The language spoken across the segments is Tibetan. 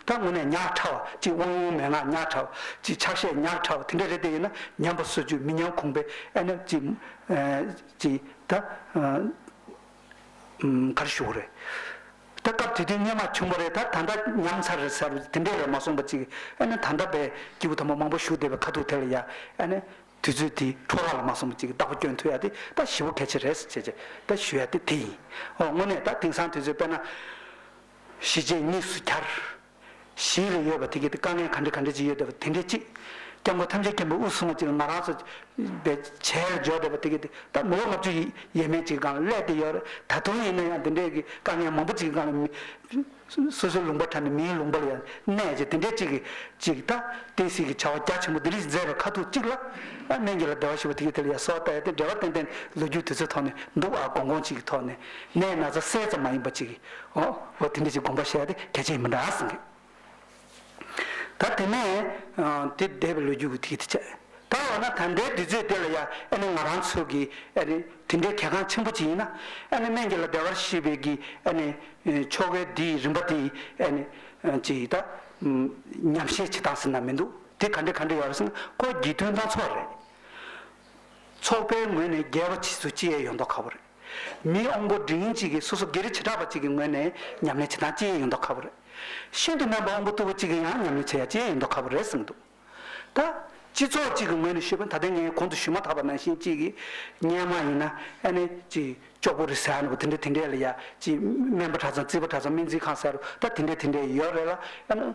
ད་ངོ་ནས་ཉག་ཕྲ་བ་ཅིག་དབང་ཡོང་མན་ངག་ཉག་ཕྲ་བ་ཅིག་ཕྱག་བཞེས་ཉག་ཕྲ་བ་དེ་འདྲ་རེ་ལྡེ་ཡོད་ན་ཉམས་པ་སོད་རྒྱུ་མི་ཉམས་ཁུངས་པའི་ཨེ་ན་ཅིག་ཅིག་ད་ག་རེ་ཞུ་གི་རེད་ད་སྐབས་དེ་དུས་སྙན་མ་བྱུང་བ་རེད་ད་ད་ལྟ་ཉམས་ཚར་རེད་ཟེར་བ་དེ་འདྲས་རེད་མ་སོང་བ་ཅིག་ཨེ་ན་ད་ལྟ་བས་སྐྱེ་བུ་དམ་པ་མང་པོ་བཞུགས་བསྡད་པའི་ཁ་ཐུག་དེ་ལ་ཡ་ཨེ་ན་དུས་ཚོད་དེ་འཕྲོ་རག་ལ་མ་སོང་བ་ཅིག་བདག་པོ་སྐྱོན་ཐུག་ཡ་དེ་ད་ཞི་བོ་གལ་ཆེ་རེད་ཟེར་བྱས་བྱས་ད་ཞུ་ཡ་དེ་དེ་ཡིན་འོ་དངོས་གནས་ད་དེང་སང་དུས་ཚོད་དཔེར་ན། གཞི་བྱེས་གཉིས་སུ་གྱར། གཞི་ལ་ཡོད་པ་དེ་གའི་དཀའ་ངལ་ག་འདྲ་ག་འདྲ་ཅིག་ཡོད་བསྡད་པ་དེ་འདྲའི་གཅིག། སྐྱབས་མགོན་ཐམས་ཅད་མཁྱེན་པའི་དབུ་གསུམ་མ་གཅིག་ལ་ང་རང་སོགས་པའི་བྱས་ལ་འཇོག་བསྡད་པ་དེ་གའི་ད་མི་ལོ་ལྔ་བཅུ་ཡས་མས་ཅིག་གང་ལ་སླད་དེ་ཡོད་རེད་ད་དུང་ཡིན་ན་ཡང་དེ་འདྲའི་གི་དཀའ་ངལ་མང་པོ་ཅིག་གང་ལ་མི། སོ་སོའི་ལུང་པར་ཁྲ་ནས་མིའི་ལུང་པར་ཡང་གནས་ཅིག་དེ་འདྲའི་ཅིག་གི་ཅིག་ད་བསྟན་སྲིད་ཀྱི་བྱ་བ་རྒྱ་ཆེན་པོ་འདི་རིགས་མཛད་པའི་ཁ་ཐུག་ཅིག་ལ། སྨན་གྱི་ལ་བདེ་བ་ཞུ་བ་དེ་གའི་དེ་ལ་ཡང་སོ་ལྟ་ཡ་དེ་འབྲེལ་བ་ཏན་ཏན་ལོ་རྒྱུས་དུས་ཚོད་ཐོག་ནས་འདུག་ཨ་གོང་གོང་ཅིག་གི་ཐོག་ནས་ནས་ན་ཚ་གསལ་ཙམ་མ་ཡིན་པ་ཅིག་གི། ཨོ་ཨོ་དེ་འདྲ་ཞིག་དགོངས་པ་བཞེས་པ་དེ་གལ་ཆེན་ཡིན་པ་འདྲ་ཟེར་གི། ད་དེ་ནས་དེ་འདས་པའི་ལོ་རྒྱུས་ཀྱི་དེ་ཡིད་དུ་ཆེས། ད་འོ་ན་ད་འདྲའི་དུས་ཚོད་དེ་ལ་ཡང་ཨ་ནི་ང་རང་ཚོ་གི་ཨ་ནི་དེ་འདྲའི་གལ་འགངས་ཆེན་པོ་ཅིག་ཡིན་ན། ཨ་ནི་སྨན་གྱི་ལ་བདེ་བར་ཤེས་པའི་གི་ཨ་ནི་ཆོ་གའི་དེ་ཡི་རིམ་པ་དེ་ཡི་ཨ་ནི་ཅི་ཡིས་ད་ཉམས་བཞེས་བྱེད་སྟངས་ཟེར་ན་མི་འདུག་དེ་ག་འདྲ་ག་འདྲ་ཡོད་རེད་ཟེར་ན་སྐོར་བགྱིས་དོན་དང་ཚོགས་རེད། ཚོགས་པའི་ངོས་ནས་རྒྱལ་བ་ཕྱིས་སུ་སྤྱི་ཡས་ཡོད་མདོག་ཁ་བོ་རེད། མི་དབང་པོ་འབྲིང་གཅིག་གིས་སོ་སོ་སྒེར་བྱེ་བྲག་པ་གཅིག་གི་ངོས་ནས་ཉམས་ལེན་བྱེད་སྟངས་ཅི་ཡང་ཡོད་མདོག་ཁ་བོ་རེད། ཤིན་ཏུ་རྣམ་པ་དབང་པོ་སྟུག་པོ་གཅིག་གིས་ཡང་ཉམས་ལེན་བྱེད་ཡ་ཅི་ཡང་ཡོད་མདོག་ཁ་བོ་རེད་བསམ་འདུག་ད། སྤྱི་ཚོགས་གཅིག་གི་ངོས་ནས་ཤོད་པ་ད་ལྟའི་ངས་གོང་དུ་ཞུས་མ་ཐག་པ་ནང་བཞིན་གཅིག་གིས་གཉེན་མ་ཡིན་ན་ཨེ་ནས་ཅི་ཅོག་པོ་རེད་ཟེར་ཡ་ནི་བོ་དེ་འདྲས་དེ་འདྲས་ལ་ཡ་ཅི་སྨན་པ་གྲྭ་ཚང་རྩིས་པ་གྲྭ་ཚང་སྨན་རྩིས་ཁང་ཟེར་རུ་ད་དེ་འདྲས་དེ་འདྲས་ཡོད་རེད་ལ་ཨེ་ནས།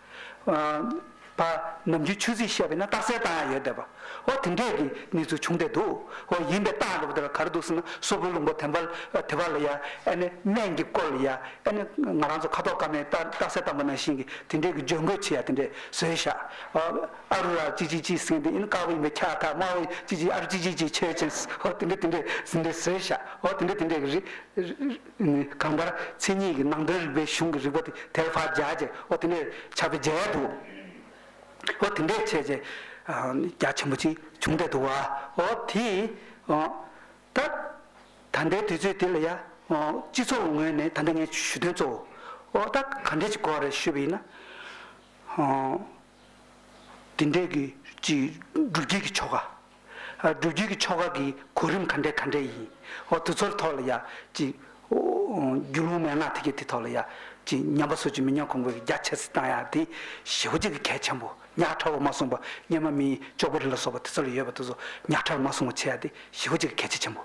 པ། ནམ་རྒྱུན་ཆོས་ཚིག་བཤད་པས་ན་རྟགས་གསལ་བཏང་ཡང་ཡོད་བསྡད་པ། འོ་དེ་འདྲས་ཀྱི་གནས་ཚུལ་བྱུང་བསྡད་འདུག་འོ་ཡིན་པའི་རྟགས་འགྲོ་བ་དེ་ལ་ག་རེ་འདུག་ཟེར་ན་སོ་ཕོའི་ལུང་པ་དེ་འབའ་དེ་བ་ལ་ཡ་ཨེ་ནས་སྨན་གྱི་སྐོར་ལ་ཡ་ཨེ་ནས་ང་རང་ཚོ་ཁ་དོག་དཀར་མའི་རྟགས་རྟགས་གསལ་བཏང་པ་ནང་བཞིན་གྱི་དེ་འདྲས་ཀྱི་བརྗོད་འགོད་ཆེ་ཡ་དེ་འདྲས་བཟོས་ཤག་ཨ་ཨ་རུ་ར་ཅི་ཅི་ཅི་ཟེར་མཁན་དེ་ཨེ་ནས་དཀར་པོ་ཡིན་པས་ཁྱག་ཐག་དམར་པོ་ཅི་ཅི་ཨ་རུ་ཅི་ཅི་ཅི་ཆོས་ཅན་ཧོ་དེ་འདྲས་དེ་འདྲས་ཟེར་འདྲས་བཟོས་ཤག་ཨོ་དེ་འདྲས་དེ་འདྲས་ཀྱི་རི་ནི་གང་ལྟར་མཚན་ཉིད་ཀྱི་ནང་དོན་རིགས་པའི་གཞུང་གི་རིགས་པ་དེ་དལ་བར་བརྒྱ་བྱས་ཨོ་དེ་འདྲས་བྱ་བའི་རྒྱལ་དུ་ཨོ་དེ་འདྲས་བྱས་བྱས་རྒྱ་ཆེན་པོ་ཅིག་བྱུང་འདྲས་འདུག་བའོ། དེ་ད་ད་ལྟའི་དུས་ཚོད་འདི་ལ་ཡ་སྤྱི་ཚོགས་ངོས་ནས་ད་ལྟ་ངས་ཞུ་དོན་གཙོ་བོ་ད་ག་འདྲས་ཅིག་གོ་རེ་ཞུས་པ་ཡིན་ན། དེ་འདྲས་ཀྱི་ཅིག་སྒྲུབ་བྱེད་ཀྱི་ཆོ་ག་སྒྲུབ་བརྒྱུད་ཀྱི་ཆོ་ག་གི་གོ་རིམ་ག་འདྲས་ག་འདྲས་ཡིན། འོ་དུ་ཚོར་ཐོག་ལ་ཡ། ཅི། རྒྱུ་ལུང་མན་ངག་ཐིག་གེ་དེ་ཐོག་ལ་ཡ། ཅི། ཉམས་པ་སོགས་ཀྱི་མི་ཉམས་གོང་འཁོད་ཀྱི་རྒྱ་ཆེར་བཏང་ཡག་དེ། ཞི་བ་གཅིག་གི་གལ་ཆེན་པོ། ཉག་ཕྲ་བ་མ་གསུངས་པ། སྙེ་མ་མིའི་ཅོག་པུ་རི་ལ་སོགས་པ་དེ་ཚོ་ལ་ཡོད་པ་དེ་ཚོ་ཉག་ཕྲར་མ་གསུང་བ་བྱེད་ཡག་དེ་ཞི་བ་གཅིག་གི་གལ་ཆེ་ཆེན་པོ།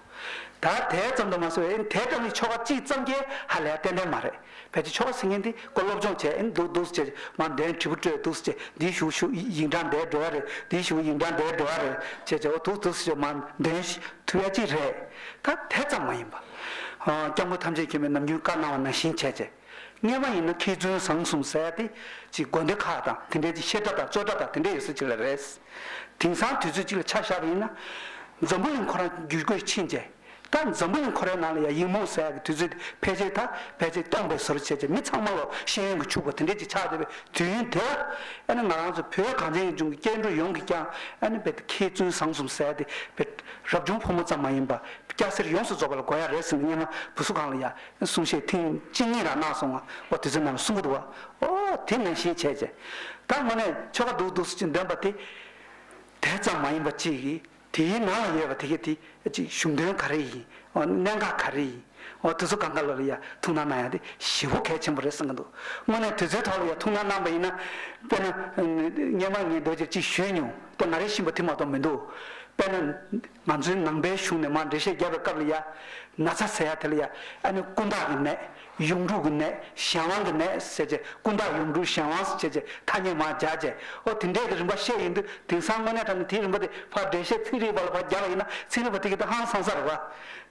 ད་དེ་ཙམ་དུ་མ་ཟོས་འོན་དེ་ཙམ་གྱི་ཆོ་ག་གཅིག་ཙམ་གྱིས་ཧ་ལས་ཏན་ཏན་མ་རེད། ཕལ་ཆེར་ཕྱོགས་སུ་ངན་འདི་ཀོ་སློབ་སྦྱོང་བྱས་ཨེ་འདུག་འདུག་ཅེས་མར་འདན་དྲིལ་བུ་སྤྲོད་འདུག་ཅེས་འདིའི་བཞུགས་ཞུ་ཡིག་འདྲ་འདྲའི་འགྲོ་བ་རེད་འདིའི་བཞུགས་ཡིག་འདྲ་འདྲའི་འགྲོ་བ་རེད་ཅེས་བྱས་བ་འདུག་འདུག་ཅེས་མར་འདན་ཐུ་ཡ་ཅིག་རེད། ད་དེ་ཙམ་མ་ཡིན་པ། སྐྱབས་མགོན་ཐམས་ཅད་མཁྱེན་པའི་ནམ་རྒྱུན་བཀའ་གནང་བ་ནང་བཞིན་བྱས་རྗེས། རྙེད་པ་ཡིན་ན་མཁས་བཙུན་བཟང་གསུམ་གསལ་ཡ་དེ་ཅིག་དགོན་སྡེ་ཁག་དང་དེ་འདྲའི་ཅིག་བཤད་གྲྭ་དང་རྩོད་གྲྭ་དང་དེ་འདྲའི་ཡོད་ས་ཅིག་ལ་རེད། དེང་སང་དུས་ཚོད་ཅིག་ལ་ཆ་བཞག་པ་ཡིན་ན། འཛམ་བུ་གླིང་ཁོ་རང་བརྒྱུད་བསྐོས་ཕྱིན་རྗེས། སྐབས་འཛམ་བུ་ཡང་ཁོ་རའི་ནང་ལ་ཡ་ཡིག་མོ་ཟེར་ཡག་གི་དུས་ཚོད་དེ་ཕལ་ཆེར་ད་བལ་ཚིག་སྟོང་པའི་ཟུར་བཅད་ཅིང་མི་ཚང་མ་ལོ་ཤེས་ཡོན་གྱི་ཕྱུག་པོ་དེ་འདྲས་ཀྱིས་ཆགས་བསྡད་པའི་དུས་ཡུན་དེ་ལ་ཨ་ནི་ང་རང་ཚོ་བོད་གངས་ཅན་ཡུལ་ལྗོངས་ཀྱི་སྐྱེ་འགྲོ་ཡོངས་ཀྱིས་ཀྱང་ཨ་ནི་བལ་དེ་མཁས་བཙུན་བཟང་གསུམ་ཟེར་དེ་བལ་རབ་བྱུང་ཕོ་མོ་ཙམ་མ་ཡིན་པར་སྐྱ་སེར་ཡོངས་སུ་རྫོགས་པ་ལ་དགོས་ཡ་རེད་ཟེར་ནས་སྙན་ངག་བུ་གསུ་ཁང་ལ་ཡ་གསུང་བཤད་ཐེངས་གཅིག་གཉིས་རང་གནང་སོང་ང་འོ་དེ་ཚོའི་ནང་ལ་གསུང་གི་འདུག་བ་ཨོ་དེ་ནང་བཞིན་བྱས་བྱས་ད་དངོས་གནས་ཆོལ་ཁ་འདུག་འདུག་ཟེར་གྱི་འདོན་པ་དེ་དེ་ཙམ་མ་ཡིན་པ་གཅིག་གིས་དེའི་ནང་ལ་ཡོད་པ་དེ་གས་དེ་གཅིག་གཞུང་དོན་ག་རེ་ཡིན་འོ་གནད་འགག་ག་རེ་ཡིན་འོ་དེ་ཚོ་ག་འགའ་ལོ་ལ་ཡ་ཐུགས་སྣང་གནང་ཡ་དེ་ཞེ་བོ་གལ་ཆེན་པོ་རེད་བསམ་གྱི་འདུག་དངོས་གནས་དེ་ཚོའི་ཐོག་ལ་ཡ་ཐུགས་སྣང་གནང་པ་ཡིན་ན། དཔེར་ན། སྙན་མ་ངས་རྡོ་རྗེར་གཅིག་ཞུས་མྱོང་དེ་ང་རེ་བཞིན་པོ་དེ་མ་གཏོགས་མི་འདུག་དཔེར་ན། ང་ཚོའི་ནང་པའི་གཞུང་ནས་མར་འགྲེལ་བཤད་རྒྱབ་པའི་སྐབས་ལ་ཡ། ན་ཚ་ཟེར་ཡ་དེ་ལ་ཡ་ཨ་ནི་ཀུན་བརྟགས་ནི་མེད། གཡུང་དྲུང་གི་ནད་གཞན་དབང་གི་ནད་ཟེར་ཅེས་ཀུན་བརྟགས་གཡུང་དྲུང་གཞན་དབང་ཟེར་ཅེས་ཐ་སྙད་མང་སྦྱར་རྗེས་ཨོ་དེ་འདྲས་ཀྱི་རིམ་པ་བཤད་ཡོད་འདུག་དེང་སང་དངོས་གནས་ཐ་ན་དེའི་རིམ་པ་དེ་ཕར་འགྲེལ་བཤད་ཚིག་རིས་པ་ལ་ཕར་རྒྱག་པ་ཡིན་ན་ཚིག་རིས་པ་དེ་གི་ད་ཧང་སང་ས་རེད་པ།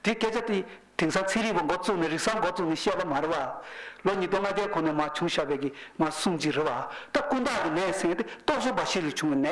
དེ་སྐད་ཆ་དེ་དེང་སང་ཚིག་རིས་པ་མགོ་བཙུགས་ནས་རིག་གསར་མགོ་བཙུགས་ནས་བཤད་པ་མ་རེད་པ། ལོ་ཉིས་སྟོང་ང་བརྒྱད་གོང་ནས་མ་བྱུང་ཞབས་པད་ཀྱིས་མ་གསུངས་ཅི་རེད་པ། ད་ཀུན་བརྟགས་ཀྱི་ནད་ཟེར་ཡང་དེ་རྟོག་བཟོ་འབའ་ཞིག་ལས་བྱུང་བའི་ནད།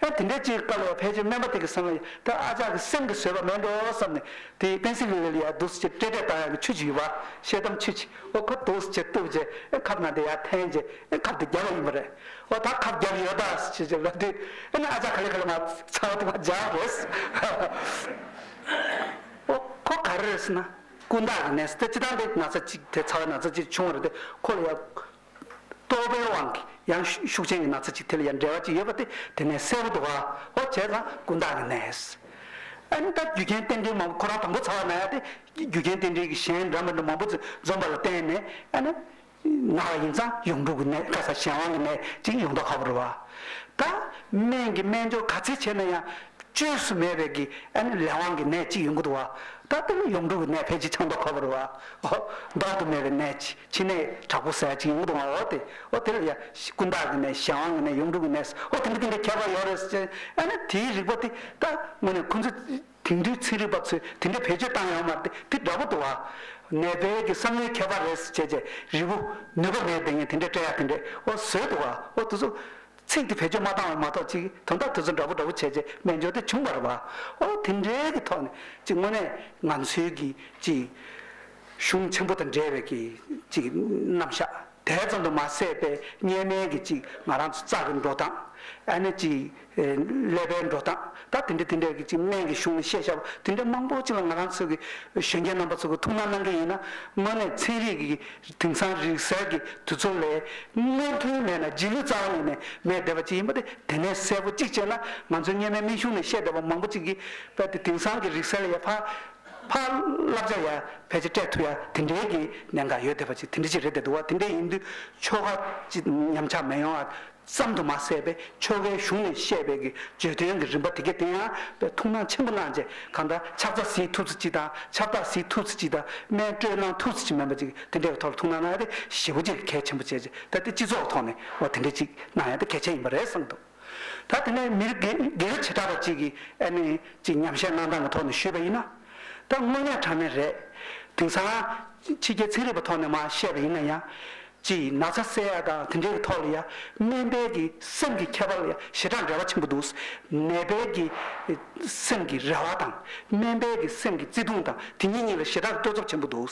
ཨེ་དེ་འདྲའི་ཅིག་དཀའ་ལས་ཕལ་ཆེར་སྨན་པ་དེ་གི་བསམ་ཡས་ད་ཨ་ཅག་གི་སེམས་ཀྱི་བཟོད་པ་མེད་འགྲོ་བསམ་ནས་དེའི་པེན་སི་ལི་ཝེ་ལི་ཡའི་རྡོ་སུ་ཅེ་སྤྲེ་སྤྲེ་ལྟར་ཡང་གི་ཆུ་ཅིག་ཡོད་པ་ཤེལ་དམ་ཆུ་ཅིག་ཨོ་ཁོ་རྡོ་སུ་ཅེ་བཏུབ་རྗེས་ཨེ་ཁབ་ནང་དེ་ཡར་འཐེན་རྗེས་ཨེ་ཁབ་དེ་རྒྱབ་བ་ཡིན་པ་རེད་ཨོ་ད་ཁབ་རྒྱབ་ཡོད་ད་སུ་ཅེ་ཅེ་ལབ་དུས་ཨེ་ན་ཨ་ཅག་ག་ལེ་ག་ལེ་མ་ཚ་བ་དེ་མ་སྦྱར་བ་རེད་ཨོ་ཁོ་ག་རེ་རེད་ཟེར་ན་ཀུན་བརྟགས་ཀྱི་ནས་སུ་དེ་ཅི་ད་འདི་ན་ཚ་ཅིག་དེ་ཚ་བ་ན་ཚ་ཅིག་བྱུང་བ་རེད་དེ་ཁོ་ལ་ཡ་རྟོག་པའི་དབང་གིས་ཡང་ཤུགས་ཅན་གྱི་ན་ཚ་ཅིག་དེ་ལ་ཡང་འབྲེལ་བ་ཅིག་ཡོད་པ་དེ་དེ་ནས་གསལ་པོ་འདུག་ཨ་ཨོ་བྱས་ཙང་ཀུན་བརྟགས་ཀྱི་གནས། ཨ་ནི་ད་རྒྱུ་རྐྱེན་རྟེན་འབྲེལ་མང་པོ་ཁོ་རང་དང་པོ་ཚ་བ་ན་ཡང་དེ་རྒྱུ་རྐྱེན་རྟེན་འབྲེལ་གྱི་གཞན་འདྲ་མི་འདྲ་མང་པོ་ཚོས་འཛོམས་པ་ལ་བརྟེན་ནས་ཨ་ནི། ན་བ་ཡིན་ཙང་ཡོངས་གྲུབ་ཀྱི་གནས་ཁ་ས་གཞན་དབང་གི་གནས་ཅིག་ཡོང་མདོག་ཁ་པོ་རེད་བ། ད་སྨན་གྱི་སྨན་སྦྱོར་ག་ཚད་བྱས་ན་ཡང་བཅོས་སུ་མེད་པའི་གི་ཨ་ནི་ལས་དབང་གི་གནས་ཅིག་ཡོང་གི་འདུག་བ། ད་དེ་ལ་ཡོངས་གྲུབ་ཀྱི་གནས་ཕལ་ཆེར་ཆགས་མདོག་ཁ་པོ་རེད་བ། ཨོ། ལྡོག་ཏུ་མེད་པའི་གནས་ཅིག་ཕྱི་ནས་དྲག་པོ་ཟས་གཅིག་ཡོང་དུ་མ་འོ་དེ་འོ་དེ་ལ་ཡ། ཀུན་བརྟགས་ཀྱི་ནས་གཞན་དབང་གི་ནས་ཡུམ་དྲུག་གི་ནས་སུ་འོ་དེ་འདྲ་དེ་འདྲ་ཁྱད་པར་ཡོད་རེད་ཟེར། ཨ་ན་དེའི་རིག་པ་དེ་ད་དངོས་ནས་ཁོ་ཚོས་དེང་དུས་ཚན་རིག་པ་ཚོས་དེ་འདྲ་བེད་སྤྱོད་བཏང་ཡོང་མ་དེ་དེ་འདྲ་པོ་འདུག་ཨ། ནད་པའི་གི་བསམ་བློའི་ཁྱད་པར་རེད་ཟེར་བྱས་བྱས་རི་བོ། ནུས་པ་མེད་དེ་ངས་དེ་འདྲ་སྤྲད་ཡ་དེ་འདྲས་འོ་བཟོས་འདུག་ཨ་འོ་དེ་ཚོ། ཚིག་དེ་བེད་སྤྱོད་མ་བཏང་བ་མ་གཏོགས་ཅིག་དོན་དག་དེ་ཚོ་འདྲ་པོ་འདྲ་པོ་བྱས་བྱས་སྨན་སྦྱོར་དེ་བྱུང་བར་བ། འོ་དེ་འདྲའི་གི་ཐོག་ནས་ཅིག་དངོས་ནས་ང་ཚོའི་གི་ཅིག། གཞུང་ཆེན་པོ་དང་འབྲེལ་བའི་གྱི་ཅིག་རྣམ་བཞག་དེ་ཙམ་དུ་མ་ཟད་པའི་བསྙེན་གནས་ཀྱི་ཅིག་ང་རང་ཚོ་རྩ་གི་འགྲོ་སྟངས་ཨ་ནི་ཅིག་ཀླད་པའི་འགྲོ་སྟངས་ད་དེ་འདྲ་དེ་འདྲ་གྱི་ཅིག་སྨན་གྱི་གཞུང་ནས་བཤད་བྱ་བ་དེ་འདྲ་མང་པོ་ཅིག་ལ་ང་རང་ཚོ་གི་གཞོན་སྐྱེས་རྣམ་པ་ཚོ་གི་ཐུགས་སྣང་གནང་གི་ཡིན་ན་དངོས་གནས་ཚན་རིག་གི་དེང་སང་རིག་གསར་གྱི་དུས་ཚོད་ལས་སྔོན་ཐོན་མེད་ན་རྗེས་ལུས་རྩ་བ་ནས་ནས་མེད་བསྡད་པ་ཅིག་ཡིན་པ་དེ་དེ་ནས་གསལ་པོ་ཅིག་བྱས་ན་ང་ཚོའི་བསྙེན་མའི་སྨན་གཞུང་ནས་བཤད་བསྡད་པ་མང་པོ་ཅིག་གིས་པ་དེ་དེང་སང་གི་རིག་གསར་ལས་ཡ་ཕ། ཕ། བསླབ་བྱ་ཡར་བས་ཅི་སྤྲད་ཐུབ་ཡ་དེ་འདྲའི་གི་ནས་འགའ་ཡོད་བསྡད་པ་ཅིག་དེ་འདྲི་ཅིག་རེད་བསྡད་འདུག་བ་དེ་འདྲའི་ཡིན་དུས་ཆོལ་ཁ་ཅིག་ཉམས་ཆག་མེད་ཡོང་ཨ་བསམ་དུ་མ་ཟད་པས་ཆོལ་ཁའི་གཞུང་ནས་བཤད་པའི་གི་བརྗོད་དོན་གི་རིམ་པ་དེ་གའི་དེ་ཡང་བས་ཐུགས་སྣང་ཆེན་པོ་གནང་རྗེས་གང་ལྟར་ཕྱག་རྫ་བཟི་ཐུབ་ཚུལ་ཅིག་དང་ཆབ་བདག་བཟི་ཐུབ་ཚུལ་ཅིག་དང་སྨན་སྤྲོད་གནང་ཐུབ་ཚུལ་ཅིག་མིན་པ་ཅིག་དེ་འདྲའི་གི་ཐོག་ལ་ཐུགས་སྣང་གནང་ཡ་དེ་ཞེ་བོ་ཅིག་གལ་ཆེན་པོ་བྱས་རྗེས་ད་དེ་སྤྱི་ཚོགས་ཐོག་ནས་བ་དེ་འདྲའི་ཅིག་གནང་ཡ་དེ་གལ་ཆེན་ཡིན་པ་རེད་བསམ་འདུག། ད་དེ་ནས་མི་རིགས་དགེ་བའི་བྱེ་བྲག་པ་གཅིག་གིས་ཨེ་མེད་ཅིག་ཉམས་བཞེས་གནང་སྟངས་ཀྱི་ཐོག་ནས་ཞུས་པ་ཡིན་ན། ད་དངོས་གནས་གྲངས་མེད་རེད། དེང་སང། ཕྱི་རྒྱལ་ཚན་རིག་པ་ཐོག་ནས་མ་བཤད་པ་ཡིན་ན་ཡང། ཅི་ན་ཚ་བསལ་ཡ་དང་དེ་འདྲའི་ཐོག་ལ་ཡང་སྨན་དཔལ་གྱི་སེམས་ཀྱི་ཁྱད་པར་ལ་ཡང་ཞེ་དྲག་འབྲེལ་བ་ཆེན་པོ་འདུག་ནད་དཔལ་གྱི་སེམས་ཀྱི་རེ་བ་དང་སྨན་དཔལ་གྱི་སེམས་ཀྱི་བརྩེ་དུང་དང་དེ་གཉིས་གཉིས་ལ་ཞེ་དྲག་བལྟོས་ཚོར་ཆེན་པོ་འདུག་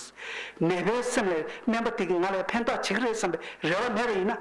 ནད་དཔལ་སེམས་ལས་སྨན་པ་དེ་གིས་ང་ལས་ཕན་ཐོགས་བྱེད་ཀྱི་རེད་བསམ་པའི་རེ་བ་མེད་པ་ཡིན་ན།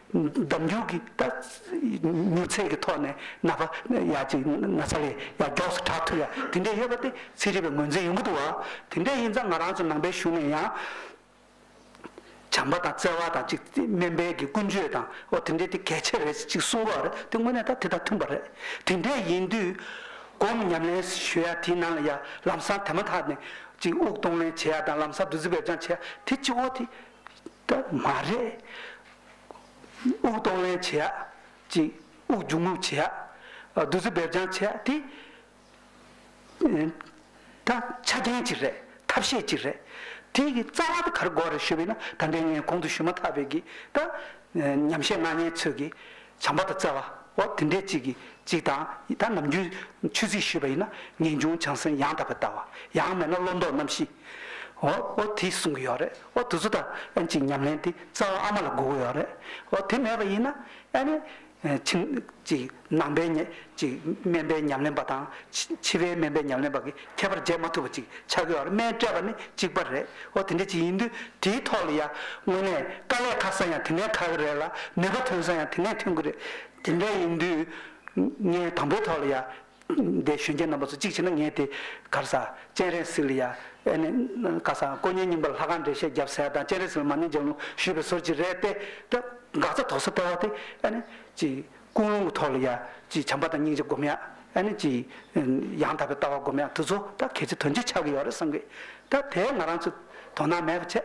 ལྡབ་འགྱུར་གྱི་མྱུར་ཚད་ཀྱི་ཐོག་ནས་ན་བ་ཡ་གཅིག་ན་ཚ་ལས་ཡ་མགྱོགས་སུ་གྲགས་ཐུབ་ཡ་དེ་འདྲས་ཡོད་པ་དེ་ཚིག་རིག་པའི་ངོས་འཛིན་ཡོང་གི་འདུག་བ་དེ་འདྲས་ཡིན་ཙང་ང་རང་ཚོ་ནང་པའི་གཞུང་ནས་ཡང་བྱམས་པ་དང་བརྩེ་བ་དང་ཅིག་སྨན་པའི་གྱི་ཀུན་སྤྱོད་དང་འོ་དེ་འདྲས་དེ་གལ་ཆེ་རེད་ཅིག་གསུང་བ་རེད་དེ་དངོས་གནས་ད་དེ་དང་མཐུན་པ་རེད་དེ་འདྲས་ཡིན་དུས་སྒོམ་ཉམས་ལེན་ཞུ་ཡ་དེའི་ནང་ལ་ཡ་ལམ་སང་དེ་མ་ཐག་ནས་ཅིག་དབུགས་གཏོང་ལེན་བྱེད་ཡ་དང་ལམ་སང་བདུད་རྩི་བེད་སྦྱང་བྱེད་ཡ་དེ་ཅིག་འོ་དེ། ད་མ་རེད། དབུགས་གཏོང་ལེན་བྱེད་ཡག་ཅིག་དབུགས་འབྱུང་ངུག་བྱེད་ཡག་བདུད་རྩི་འབེབས་རྐྱང་བྱེད་ཡག་དེ། ད་ཆ་རྐྱེན་གཅིག་རེད་ཐབས་ཤེས་གཅིག་རེད། དེ་གི་རྩ་བ་ད་གར་སྒོ་རེ་ཞུ་བས་ན་ད་ལྟའི་ངས་གོང་དུ་ཞུ་མ་ཐག་པའི་གི་ད་ཉམས་བཞེས་སྣ་བརྙན་ཚོས་གི་བྱང་པ་ད་རྩ་བ་འོ་དེ་འདྲས་གཅིག་གི་གཅིག་དང་ད་ནམ་རྒྱུན་ཆོས་ཚིག་ཞུས་པ་ཡིན་ན་ངེས་འབྱུང་བྱང་སེམས་ཡང་དག་པའི་ལྟ་བ་ཡང་མེད་ན་བློ་འདོགས་རྣམ་བཞི། འོ་དེས་གསུང་གི་ཡོད་རེད་འོ་དུས་ཚོད་དང་ཨན་ཅིག་ཉམས་ལེན་དེ་རྩ་བ་ཨ་མ་ལ་སྒུག་གི་ཡོད་རེད་འོ་དེ་མེད་པ་ཡིན་ན་ཨ་ནི། ཕྱིན། ཅིག་ནང་པའི། ཅིག་སྨན་པའི་ཉམས་ལེན་པ་དང། ཕྱི་པའི་སྨན་པའི་ཉམས་ལེན་པ་གི་ཁྱད་པར་འབྱེད་མ་ཐུབ་པ་ཅིག་ཆགས་ཀྱི་ཡོད་རེད་སྨན་སྤྲད་པ་ནི་གཅིག་པ་རེད་འོ་དེ་འདྲ་ཅིག་ཡིན་དུས་དེའི་ཐོག་ལ་ཡ་དངོས་གནས་དཀའ་ལས་ཁག་ས་ཡང་དེ་ནས་ཁག་གི་རེད་ལ་ནུས་པ་ཐོན་ས་ཡང་དེ་ནས་ཐོན་གི་རེད་དེ་འདྲ་ཡིན་དུས། ངས་དང་པོའི་ཐོག་ལ་ཡ། འདས་གཞོན་སྐྱེས་རྣམ་པ་ཚོ་གཅིག་བྱས་ན་ངས་དེ་གར་ས། སྤྱན་རས་གཟིགས་ལ་ཡ། ཨེ་ནས། ཀ་ས། དཀོན་གཉེར་རྙིང་པ་ལ་ལྷ་ཁང་འགྲེལ་བཤད་བརྒྱབ་ཟེར་དང་སྤྱན་རས་གཟིགས་ལ་མ་ནིང་ལྗགས་ལུང་ཞུས་པའི་ཟོལ་གྱིས་རེད་དེ། ད། འགག་རྩ་དོག་ས་སྟེར་བ་དེ། ཨེ་ནས། ཀྱི། ཀུན་སློང་གི་ཐོག་ལ་ཡ། ཀྱི། བྱམས་པ་དང་སྙིང་རྗེ་སྒོམ་ཡ། ཨེ་ནས། ཀྱི། ཡང་དག་པའི་ལྟ་བ་སྒོམ་ཡ་དེ་ཚོ་ད་གལ་ཆེ་དོན་ཆེ་ཆགས་ཀྱི་ཡོད་རེད་བསམ་གི། ད་དེ་ང་རང་ཚོས་དོ་སྣང་མེད་པ་བྱས།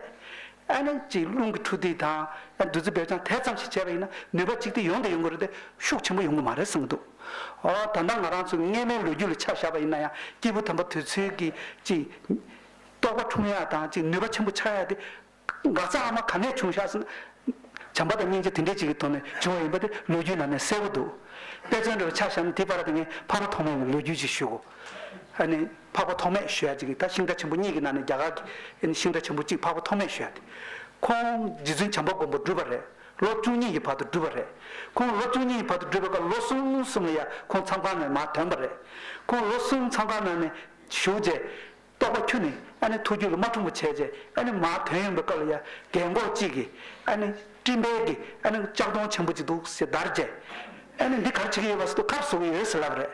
ཨ་ནི་གཅིག་རླུང་གི་འཕྲོ་འདུས་དང། ཡང་བདུད་རྩི་སྦས་ཀྱང་དལ་ཙམ་ཞིག་བྱས་པ་ཡིན་ན་ནུས་པ་གཅིག་དེ་ཡོང་དེ་ཡོང་གི་རེད་དེ་ཤུགས་ཆེན་པོ་ཡོང་གི་མ་རེད་གསུངས་ཀྱི་འདུག་ཨོ་ད་ལྟ་ང་རང་ཚོའི་སྔས་མའི་ལོ་རྒྱུས་ལ་ཆ་བཞག་པ་ཡིན་ན་ཡང་སྐྱེས་བུ་དམ་པ་དུས་ཚོད་ཀྱིས་གཅིག་རྟོགས་པ་འཁྲུངས་ཡག་དང་གཅིག་ནུས་པ་ཆེན་པོ་ཆགས་ཡག་དེ། འགག་རྩ་ཨ་མ་ག་ནས་བྱུང་ཤག་ཟེར་ན། བྱམས་པ་དང་སྙིང་རྗེ་དེ་འདྲས་གཅིག་གི་ཐོག་ནས་བྱུང་བ་ཡིན་པ་དེ་ལོ་རྒྱུས་ནང་ནས་གསལ་བོ་འདུག་དཔེ་མཚོན་དྲི་བ་ཆ་བཞག་ན་དེའི་བར་དེ་ངས་ཕ་མ་ཐོག་མ་ཡིན་ལོ་རྒྱུས་ཅིག་ཞུ་གོ། ཨ་ནི། འཕགས་པ་ཐོགས་མེད་ཞུ་ཡ་ཅིག་གིས་ད་ཤིང་རྟ་ཆེན་པོ་གཉིས་ཀྱི་ནང་ནས་རྒྱ་གར་གྱི་ཤིང་རྟ་ཆེན་པོ་གཅིག་འཕགས་པ་ཐོགས་མེད་ཞུ་ཡ་སྟེ། ཁོང་རྗེ་བཙུན་བྱམས་པ་མགོན་པོ་བསྒྲུབས་པ་རེད། ལོ་བཅུ་གཉིས་ཀྱི་བར་དུ་བསྒྲུབས་པ་རེད། ཁོང་ལོ་བཅུ་གཉིས་ཀྱི་བར་དུ་བསྒྲུབས་པའི་སྐབས་ལོ་གསུམ་གསུམ་ལ་ཡང་ཁོང་མཚམས་ཁང་ནས་མ་དོན་པ་རེད། ཁོང་ལོ་གསུམ་མཚམས་ཁང་ནང་ནས་བཞུགས་རྗེས། རྟོགས་པ་ཁྱུ་ནི་ཨ་ནི་ཐུགས་རྒྱུད་ལ་མ་འཁྲུངས་པ་བྱས་རྗེས་ཨ་ནི་མ་དོན་ཡོང་པའི་སྐབས་ལ་ཡང་རྒན་འགོག་གཅིག་གིས་ཨ་ནི་སྤྲིན་འཕེལ་གྱིས་ཨ་ནི་ལྕགས་སྡོང་ཆེན་པོ་གཅིག་འདུག་ཟེར་བརྡར་རྗེས། ཨ་ནི་འདི་གར་བྱེད་ཀྱི་ཡོད་པ་ཟེར་དུ་ཁ་བཟོ་གི་ཡོད་ཟེར་ལབ་པ་རེད།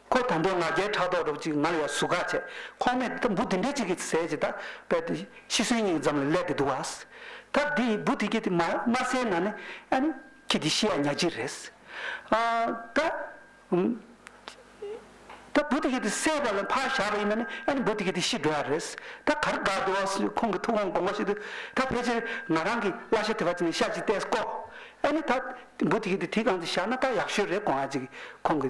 ཁོས་དོན་དུ་ང་རྒྱལ་ཕྲག་དོག་སྒྲོག་ཅིག་ང་ལ་ཡ་ཟུག་ག་བྱས་ཁོང་མས་ད་འབུ་དེ་འདྲས་ཅིག་གིས་ཟས་ཇི་ལྟར་བས་ཏེ་ཤི་གསོན་གཉིས་ཀྱི་འཛམ་ལ་བསླད་དེ་འདུག་བ། ད་འདི་འབུ་དེ་གྱིས་དེ་མ་མར་ཟས་ན་ནི་ཨ་ནི་ཁྱེད་ཀྱི་ཤི་ཡ་ཉག་གཅིག་རེད། ཨ་ད། ད་འབུ་དེ་གྱིས་དེ་བསད་པ་ལ་ཕར་བཞག་པ་ཡིན་ན་ནི་ཨ་ནི་འབུ་དེ་གྱིས་དེ་ཤི་འགྲོ་ཡ་རེད། ད་གར་དགའ་འདུག་བ་ཁོང་གི་ཐུགས་དགོངས་དགོངས་པ་ཞིག་ཏུ་ད་ཕལ་ཆེར་ང་རང་གིས་གླ་ཤ་དེ་བ་ཅིག་ནས་ཤ་ཅིག་བཏེགས་ཀོ། ཨ་ནི་ད་འབུ་དེ་གྱིས་དེ་དེའི་སྒང་དུ་བཞག་ན་ད་ཡག་ཤོས་རེད་དགོངས་ཡ་ཅིག་ཁོང་གི་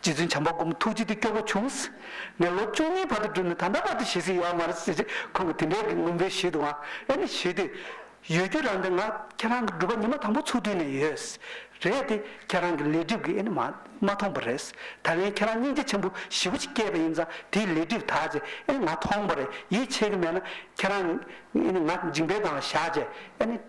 རྗེ་བཙུན་བྱམས་པ་སྒོམ་ཐུགས་རྗེ་དེ་སྐྱོ་བོ་བྱུང། ངས་ལོ་བཅུ་གཉིས་བར་དུ་བསྒྲུབས་ནས་ད་ལྟ་བར་དུ་ཞེ་སའི་ཡོད་མ་རེད་ཟེར་རྗེས་ཁོང་གིས་དེ་འདྲའི་རིགས་སྔོན་པོའི་ཞིག་དུའང་ཨེ་ནི་ཞེས་དུས་ཡོད་རྒྱུ་རང་དེ་ང་ཁྱེད་རང་གི་སྒྲུབ་པ་ཉི་མ་དང་པོ་ཚུགས་དུས་ནས་ཡོད་རེད་དེ་ཁྱེད་རང་གི་ལས་སྒྲིབ་ཀྱིས་ཨེ་ནི་མ་མཐོང་པ་རེད། ད་ལན་ཁྱེད་རང་སྙིང་རྗེ་ཆེན་པོ་ཞི་བ་ཞིག་སྐྱེས་པ་ཡིན་ཙང་དེའི་ལས་སྒྲིབ་དག་ཅིག་ཨེ་ནི་ང་མཐོང་པ་རེད་ཡིད་ཆེས་ཀྱི་མེད་ན་ཁྱེད་རང་ཨེ་ནི་ང་འཇིགས་འབེལ་དང་ལ་བཞག་རྗེས་ཨེ་ནི།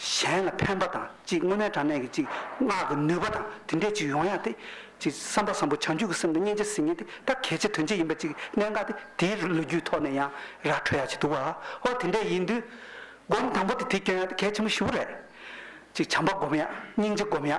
གཞན་ལ་ཕན་པ་དང་གཅིག་དངོས་གནས་དྲང་གནས་ཀྱི་གཅིག་སྔགས་ཀྱི་ནུས་པ་དང་དེ་འདྲའི་གཅིག་ཡོང་ཡ་སྟེ། གཅིག་བསམ་པ་བཟང་པོ་བྱང་ཆུབ་ཀྱི་སེམས་དང་སྙིང་རྗེ་སིལ་སྙན་དེ་ད་གལ་ཆེ་དོན་ཆེ་ཡིན་པ་གཅིག་གནད་འགག་སྟེ་དེའི་ལོ་རྒྱུས་ཐོག་ནས་ཡང་ར་འཕྲོད་ཡ་བྱེད་འདུག་བ་ཧོ་དེ་འདྲས་ཡིན་དུས། སྒོམ་དང་པོ་དེ་དེ་སྐྱོན་ཡ་སྟེ་གལ་ཆེན་པོ་བཞི་བོ་རེད། གཅིག་བྱམས་པ་སྒོམ་ཡ་སྙིང་རྗེ་སྒོམ་ཡ།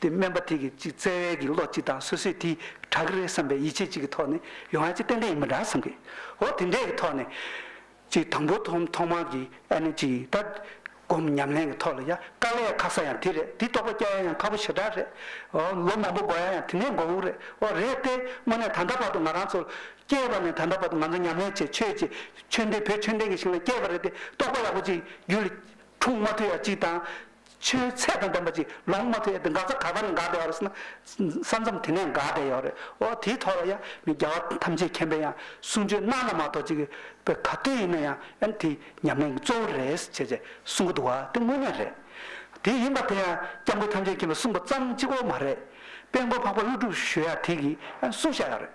དེ་སྨན་པ་དེ་གིས་ཅིག་བཙལ་བས་ཀྱི་བློ་གཅིག་དང་སོ་སོས་དེ་དྲག་གི་རེད་བསམ་པའི་ཡིད་ཆེས་གཅིག་གི་ཐོག་ནས་ཡོང་ཡ་ཅིག་ཏན་ཏན་ཡིན་པ་འདྲ་བསམ་གི། འོ་དེ་འདྲའི་གི་ཐོག་ནས། ཅིག་དང་པོ་ཐོག་ཐོག་མར་གྱི་ཨ་ནི་ཅིག་ད། སྒོམ་ཉམས་ལེན་གི་ཐོག་ལ་ཡ་དཀའ་ལས་ཁག་ས་ཡང་དེ་རེད་དེ་རྟོགས་པ་སྐྱལ་ཡ་ཡང་ཁག་པོ་ཞེ་དྲག་རེད། འོ་ལོ་མང་པོ་འགོར་ཡ་ཡང་དེ་འདྲའི་འགོར་འོང་རེད་འོ་རེད་དེ་དངོས་གནས་ད་ལྟ་བར་དུ་ང་རང་ཚོ། སྐྱེས་པ་ནས་ད་ལྟ་བར་དུ་ང་ཚོ་ཉམས་ལེན་བྱེད་ཆོས་བྱེད་ཆོས་འདི་བོད་ཆོས་ལྡན་གི་ཞིང་ལ་སྐྱེས་པ་རེད་དེ་རྟོགས་པ་ཡག་པོ་ཅིག་རྒྱུད་ལ། འཁྲུངས་མ་ཐུབ་ཡ་ཅིག་དང། ཆུའི་ཚད་དང་ལྡན་པ་ཅིག་ལོངས་མ་ཐུབ་ཡ་དེ་འགག་ས་ག་པར་འགག་བསྡད་ཡོད་རེད་ཟེར་ན། ས་མཚམས་དེ་ནས་འགག་བསྡད་ཡོད་རེད་ཨོ་དེའི་ཐོག་ལ་ཡ་ངའི་རྒྱལ་བ་ཐམས་ཅད་མཁྱེན་པས་ཡང་གསུང་ཆོས་གནང་ན་མ་གཏོགས་ཅིག་པའི་ག་དུས་ཡིན་ན་ཡང་ཡང་དེ་ཉམས་ལེན་གྱི་གཙོ་བོ་རེད་ཟེར་བྱས་བྱས་གསུང་གི་འདུག་བ་དེ་དངོས་གནས་རེད། དེ་ཡིན་པ་དེ་ཡང་སྐྱབས་མགོན་ཐམས་ཅད་མཁྱེན་པས་གསུངས་པ་ཙམ་གཅིག་བོ་མ་རེད། དཔལ་མགོན་འཕགས་པ་ཀླུ་སྒྲུབ་ཞོལ་ཡང་དེ་གིས་ཡང་གསུང་བཞག་ཡོད་རེད།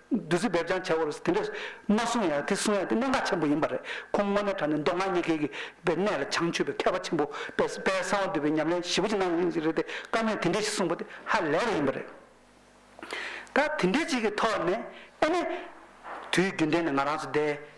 བདུད་རྩི་འབེབས་ཀྱང་བྱ་བར་དེ་འདྲ་མ་གསུངས་ཡང་དེ་གསུང་ཡ་དེ་གནད་འགག་ཆེན་པོ་ཡིན་པ་རེད་ཁོང་དངོས་གནས་དྲ་གནས་མདོ་སྔགས་གཉིས་ཀའི་གི་པའི་གནད་ལ་བྱང་ཆུབ་པའི་མཁས་པ་ཆེན་པོ་དཔལ་ས་པའི་གསང་བ་འདུས་པའི་ཉམས་ལེན་ཞིབ་པོ་ཅིག་གནང་ཡོད་ཅིག་རེད་དེ་བཀའ་མོས་དེ་འདྲས་ཞིག་གསུངས་པ་དེ་ཧ་ལས་པ་ཡིན་པ་རེད། ད་དེ་འདྲས་ཅིག་གི་ཐོག་ནས་ཨེ་ནས། དུས་རྒྱུན་ལྡན་ནས་ང་རང་ཚོ་བསྡད་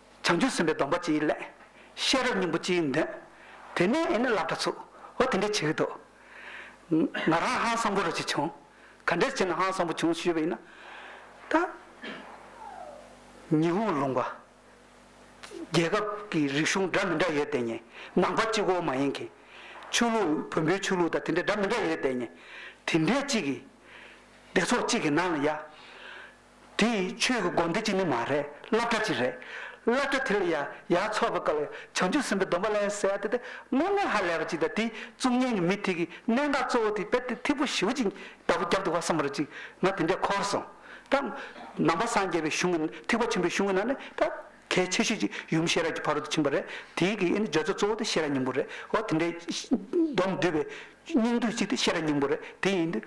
བྱང་ཆུབ་སེམས་དཔའི་སྡོམ་པ་སྤྱིའི་སླད། ཤེས་རབ་སྙིང་པོ་སྤྱིའི་མདུན། དེ་ནས་ཨེ་ནི་བསླབ་གྲྭ་ཚུགས། འོ་དེ་འདྲའི་བྱེད་དོ། ང་རང་ཧང་སང་པོ་རུ་ཅིག་བྱུང། ག་འདྲའི་ཕྱིར་ན་ཧང་སང་པོ་བྱུང་ཞུས་པ་ཡིན་ན། ད། ཉི་ཧོང་ལུང་པ། རྒྱལ་ཁབ་ཀྱི་རིག་གཞུང་འདྲ་མི་འདྲ་ཡོད་དེ་ཉེ། ནང་པ་གཅིག་གོ་མ་ཡིན་གྱི། ཆོས་ལུགས་བོན་པོའི་ཆོས་ལུགས་དང་དེ་འདྲ་འདྲ་མི་འདྲ་ཡོད་དེ་ཉེ། དེ་འདྲའི་གཅིག་གིས། སྡེ་ཚོགས་གཅིག་གི་ནང་ལ་ཡ། དེ་ཡི་ཆོས་ཀྱི་སྒོ་འདི་གཅིག་ནི་མ་རེད་བསླབ་གྲྭ་གཅིག་རེད། བསླབ་གྲྭ་དེ་ལ་ཡ་ཡ་ཚོར་བ་དཀའ་བའི་བྱང་ཆུབ་སེམས་དཔའི་སྡོམ་པ་ལན་གསལ་དེ་དེ་སྔོན་ངས་ཧ་ལས་པ་གཅིག་དང་དེའི་གཙུག་བརྙན་གྱི་མི་དེ་གི་གནད་འགག་གཙོ་བོ་དེ་དཔེར་དེ་ཐིག་པོ་བཞི་བོ་གཅིག་ལྟ་བུ་རྒྱབ་ཏུ་བ་སངས་པ་རེད་ཅིག་ང་དེ་འདྲས་འཁོར་སོང་ད། ནང་པ་སངས་རྒྱས་པའི་གཞུང་གི་ཐིག་པ་ཆེན་པོའི་གཞུང་གི་ནང་ནས་ད་གལ་ཆེ་ཤོས་གཅིག་ཡུམ་ཤེས་རབ་ཀྱི་ཕ་རོལ་ཏུ་ཕྱིན་པ་རེད་དེའི་གི་ནི་སྦྱོར་ཚུལ་གཙོ་བོ་དེ་ཤེས་རབ་སྙིང་པོ་རེད་འོ་དེ་འདྲའི་སྡོམ་བསྡུས་པའི་སྙིང་བསྡུས་གཅིག་དེ་ཤེས་རབ་སྙིང་པོ་རེད་དེ་ཡིན་དུས་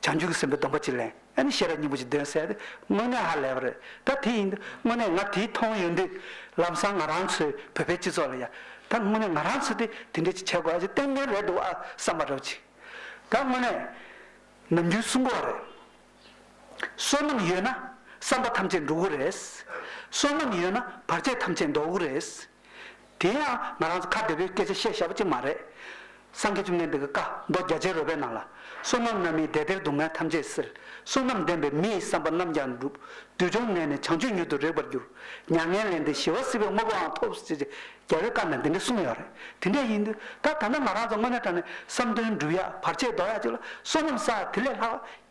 བྱང་ཆུབ་ཀྱི་སེམས་དཔའི་སྡོམ་པ་གཅིག་ལན། ཨེ་ནི་ཤེས་རབ་སྙིང་པོ་ཅིག་འདོན་གསལ་ཏེ་དངོས་གནས་ཧ་ལས་པ་རེད་ད་དེ་ཡིན་དུས་དངོས་གནས་ང་དེ་མཐོང་ཡོད་དུས་ལམ་སང་ང་རང་ཚོའི་བོད་པའི་སྤྱི་ཚོགས་ལ་ཡ་ད་དངོས་གནས་ང་རང་ཚོ་དེ་དེ་འདྲས་ཅིག་བྱེད་དགོས་ཨ་ཅེ་ཏན་ཏན་རེད་འདུག་ཨ་བསམ་པ་རེད་ཅིག་ད་དངོས་གནས་ནམ་རྒྱུན་གསུང་གོ་རེད། བསོད་ནམས་ཡོད་ན་བསམ་པ་ཐམས་ཅད་འགྲུབ་གོ་རེད། བསོད་ནམས་ཡོད་ན་བར་ཆད་ཐམས་ཅད་འདོར་གོ་རེད། དེ་ཡང་ང་རང་ཚོ་ཁ་བདེ་བོའི་སྐད་ཆ་བཤད་ཤ་བོ་གཅིག་མ་རེད། སངས་རྒྱས་བཅོམ་ལྡན་འདས་ཀྱི་བཀའ་མདོ་རྒྱ་ཆེན་རོལ་པའི་ནང་ལ། བསོད་ནམས་རྣམས་མིའི་བདེ་སྟེར་སྡུག་བསྔལ་ཐམས་ཅད་སེལ། བསོད་ནམས་ལྡན་པས་མི་ཡི་བསམ་པ་རྣམས་ཀྱང་འགྲུབ། བདུད་འབྱུང་གནས་ནས་བྱང་ཆུབ་མྱུར་དུ་རེག་པར་འགྱུར། མྱ་ངན་ལས་འདས་ཞི་བ་སྲིད་པའི་དངོས་པོའང་ཐོབ་ཟེར་ཅེས་རྒྱལ་བའི་བཀའ་ནང་དེ་འདྲ་གསུངས་ཡོད་རེད། དེ་འདྲ་ཡིན་དུས་ད་ད་ལྟ་ང་རང་ཚོ་དངོས་གནས་དྲང་ནས་བསམ་དོན་འགྲུབ་ཡ་བར་ཆད་ལྡོག་ཡ་གཅིག་ལ་བསོད་ནམས་བསགས་དེ་ལས་ལྷག་པ་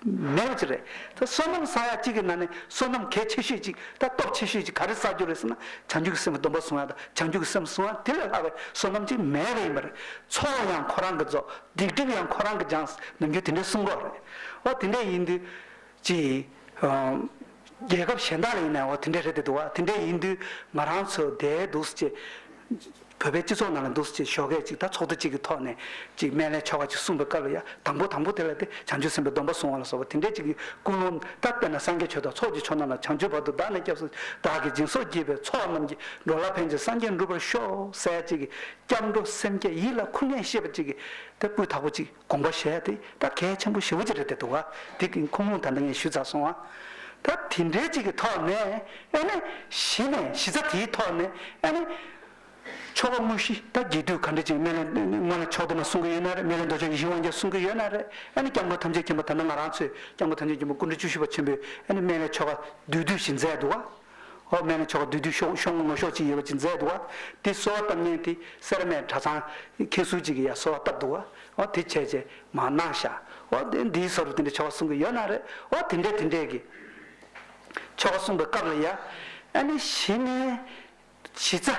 མེད་པ་ཅིག་རེད། ད་བསོད་ནམས་ས་ཡ་གཅིག་གི་ནང་ནས་བསོད་ནམས་གལ་ཆེ་ཤོས་ཅིག་ད་སྟོབས་ཆེ་ཤོས་ཅིག་ག་རེ་བསགས་རྒྱུ་རེད་ཟེར་ན་བྱང་རྒྱུད་ཀྱི་སེམས་སྡོམ་པ་བཟུང་ཡང་དང་བྱང་རྒྱུད་ཀྱི་སེམས་བཟུང་ཡང་དེ་ལས་ལྷག་པའི་བསོད་ནམས་ཅིག་མེད་པ་ཡིན་པ་རེད། འཚོ་བ་ཡང་ཁོ་རང་གིས་རྫོགས་སྡིག་སྒྲིབ་ཡང་ཁོ་རང་གིས་སྦྱངས་ཟེར་ནམ་རྒྱུན་དེ་འདྲའི་གསུང་རོགས་རེད། འོ་དེ་འདྲས་ཡིན་དུས། ཅི། རྒྱལ་ཁབ་གཞན་དག་ལ་ཡིན་ནའོ་དེ་འདྲས་རེད་དེ་འདུག་བ་དེ་འདྲས་ཡིན་དུས་ང་རང་ཚོ་བསྡད་འདུག་སུ་ཅེས། བོད་པའི་སྤྱི་ཚོགས་ནང་ལ་འདུག་སུ་ཅེས་ཞོགས་སྐད་ཅིག་དང་ཚོགས་འདུ་གཅིག་གི་ཐོག་ནས་ཅིག་སྨན་བླའི་ཆོ་ག་ཅིག་གསུངས་པའི་སྐབས་ལ་ཡ་དང་པོ་དང་པོ་དེ་ལ་སྟེ་བྱང་ཆུབ་སེམས་དཔའི་སྡོམ་པ་བཟུང་བ་ལ་སོགས་པ་དེ་འདྲས་ཅིག་གི་ཀུན་སློང་ད་བལྟ་ན་སངས་རྒྱས་ཆོས་དང་ཚོགས་ཀྱི་ཆོས་རྣམས་ལ་བྱང་ཆུབ་བར་དུ་བདག་ནི་སྐྱབས་སུ་བདག་གི་སྦྱིན་སོགས་བགྱིས་པའི་ཚོགས་རྣམས་ཀྱིས་འགྲོ་ལ་ཕན་ཅིང་སངས་རྒྱས་འགྲུབ་པར་ཤོག་སེ་ཅིག་གི་སྐྱབས་འགྲོ་སེམས་བསྐྱེད་ཡིད་ལ་ཁུར་ངེས་ཤེས་པ་ཅིག་གིས་དེ་སྤུས་དག་པོ་ཅིག། དགོངས་པ་བཞེས་ཏེ་ད་གལ་ཆེན་པོ་ཞེ་བོ་ཅིག་རེད་དེ་འདུག་ག་དེ་གིན་ཁོང་ལུང་ད་ལྟ་ངས་ཞུས་ཚར་སོང་ཨ། ད་དེ་འདྲའི་ཅིག་གི་ཐོག་ནས་ཨེ་ནས་གཞི་ནས་གཞི་རྩ་དེའི་ཐོག་ནས་ཨེ་ནས། ཆོ་ག་དངོས་གཞི་ད་རྒྱས་བསྡུས་ག་འདྲ་ཅིག་སྨན་བླའི་སྔོན་ལ་ཕྱོགས་བསྡུ་ན་གསུང་གི་ཡོད་ན་རེད་སྨན་བླའི་མདོ་ཆོག་ཡིད་བཞིན་དབང་རྒྱལ་གསུང་གི་ཡོད་ན་རེད་ཨེ་ནས་སྐྱབས་མགོན་ཐམས་ཅད་མཁྱེན་པ་ད་ནི་ང་རང་ཚོས་སྐྱབས་མགོན་ཐམས་ཅད་མཁྱེན་པ་སྐུ་མགྲོན་བཅུ་བཞི་པ་ཆེན་པོས་ཨེ་ནས་སྨན་བླའི་ཆོ་ག་བསྡུས་བསྡུས་བཞིན་མཛད་འདུག་ག། ཨོ་སྨན་ལ་ཕྱོགས་བསྡུས་དུས་ཤོག་ཤོག་ངོ་ཤོག་ཅིག་ཡོད་པ་ཅིག་མཛད་འདུག་བ་དེ་གསོལ་བ་བཏབ་ཉེན་དེ་སེར་སྨད་གྲྭ་ཚང་མཁན་ཟུར་ཅིག་གིས་ཡ་གསོལ་བ་བཏབ་འདུག་བ་དེ་བྱས་རྗེས་མ་གནང་ཤག་བ་དེ་འདིའི་སོར་རུ་དེ་འདྲའི་ཆོ་ག་གསུང་གི་ཡོད་ན་རེད་བ་དེ་འདྲས་དེ་འདྲས་ཀྱི་ཆོ་ག་གསུང་པའི་སྐབས་ལ་ཡ་ཨ་ནི་གཞི་ནས་གཞི་རྩ།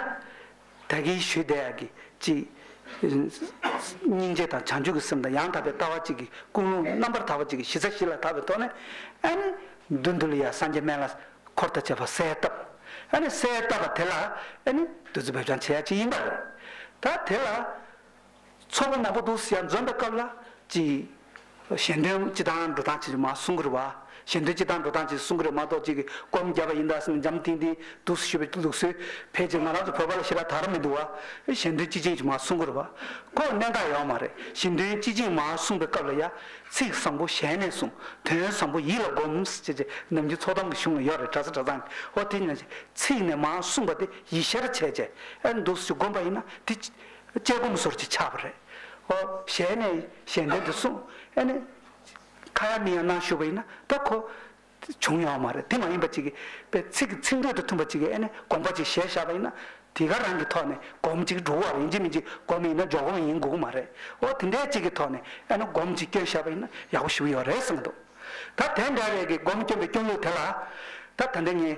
ད་གིན་ཞུ་བདེ་ཡག་གི་གཅིག། སྙིང་རྗེ་དང་བྱང་ཆུབ་ཀྱི་སེམས་དང་ཡང་དག་པའི་ལྟ་བ་གཅིག་གི་ཀུན་སློང་རྣམ་པར་དག་པ་གཅིག་གི་གཞི་རྩ་བཞི་ལ་དག་པའི་ཐོག་ནས། ཨཱ་ནི། བདུད་འདུལ་ཡང་སངས་རྒྱས་སྨན་བླ། འཁོར་དང་བཅས་པ་གསལ་བཏབ། ཨཱ་ནི་གསལ་བཏབ་པ་དེ་ལ། ཨཱ་ནི། བདུད་རྩི་འབེབས་སྦྱང་བྱེད་ཡ་གཅིག་ཡིན་པར། ད་དེ་ལ། ཚོགས་པ་ནག་པོ་འདུག་ཟེར་ཡང་འཛོམས་པའི་སྐབས་ལ་ཅི། གཞན་དོན་སྤྱི་དང་འགྲོ་སྟངས་ཅིག་མ་གསུང་གི་རེད་བ། གཞན་དོན་སྤྱི་དང་འགྲོ་སྟངས་ཅིག་གསུང་གི་རེད་མ་གཏོགས་ཅིག་བསྐོར་མི་རྒྱག་པ་ཡིན་ད་ཟེར་ནས་འཇམ་ཐིང་ཐིང་འདུག་ཟེར་ཞུ་བའི་ལུགས་སྲོལ་ཕལ་ཆེར་ང་རང་ཚོ་བོད་པ་ལ་ཤི་ར་དྭགས་ར་མི་འདུག་བ། གཞན་དོན་སྤྱི་ཅན་ཞིག་མ་གསུང་གི་རེད་བ། ཁོ་གནད་འགག་ཡོད་མ་རེད་གཞན་དོན་སྤྱི་ཅན་མ་གསུང་པའི་སྐབས་ལ་ཡ། ཚིག་བཟང་པོ་ཞལ་ནས་གསུང། དོན་བཟང་པོ་ཡིད་ལ་སྒོམས་ཅེས་ཅེས་ནམ་རྒྱུན་ཚོགས་གཏམ་གྱི་གཞུང་ལ་ཡོད་རེད་གྲྭ་ས་གྲྭ་ཚང་གི་ཨོ་དེ་ཉོན་ཅིག་ཚིག་ནས་མ་གསུང་པ་དེ་ཡིད་ཤར་བྱས་བྱས་ཨེ་འདུག་ཟེར་ཞུ་སྒོམས་པ་ཡིན་ན་དེ། དཔྱད་སྒོམ་ཟོར་གྱིས་ཆགས་པ་རེད། ཨོ། ཞལ་ནས་གཞན་དོན་དུ་གསུངས། ཨེ་ནས། ཁ་ཡང་མིག་ཡང་ནང་ཞུགས་པ་ཡིན་ན་ད་ཁོ། བྱུང་ཡོང་བ་མ་རེད་དེ་མ་ཡིན་པ་ཅིག་གིས། པའི་ཚིག་གི་ཚིག་འགྲོས་དང་མཐུན་པ་ཅིག་གིས་ཨེ་ནས་དགོངས་པ་ཅིག་ཞལ་བཞག་པ་ཡིན་ན། དེ་ག་རང་གི་ཐོག་ནས་སྒོམ་ཅིག་འགྲོ་བ་ཡིན་གཅིག་མིན་གཅིག་སྒོམ་ཡིན་ན་འཇོག་སྒོམ་ཡིན་དགོས་ཀྱི་མ་རེད། ཨོ་དེ་འདྲའི་ཅིག་གི་ཐོག་ནས་ཨེ་ནས་སྒོམ་ཅིག་སྐྱོན་བཤད་པ་ཡིན་ན་ཡག་པོ་ཞུ་གི་ཡོད་རེད་གསུངས་འདུག། ད་དེ་འདྲ་བའི་གི་སྒོམ་སྐྱོན་པའི་སྐྱོན་ལུགས་དེ་ལ། ད་ད་འདྲ་ངས་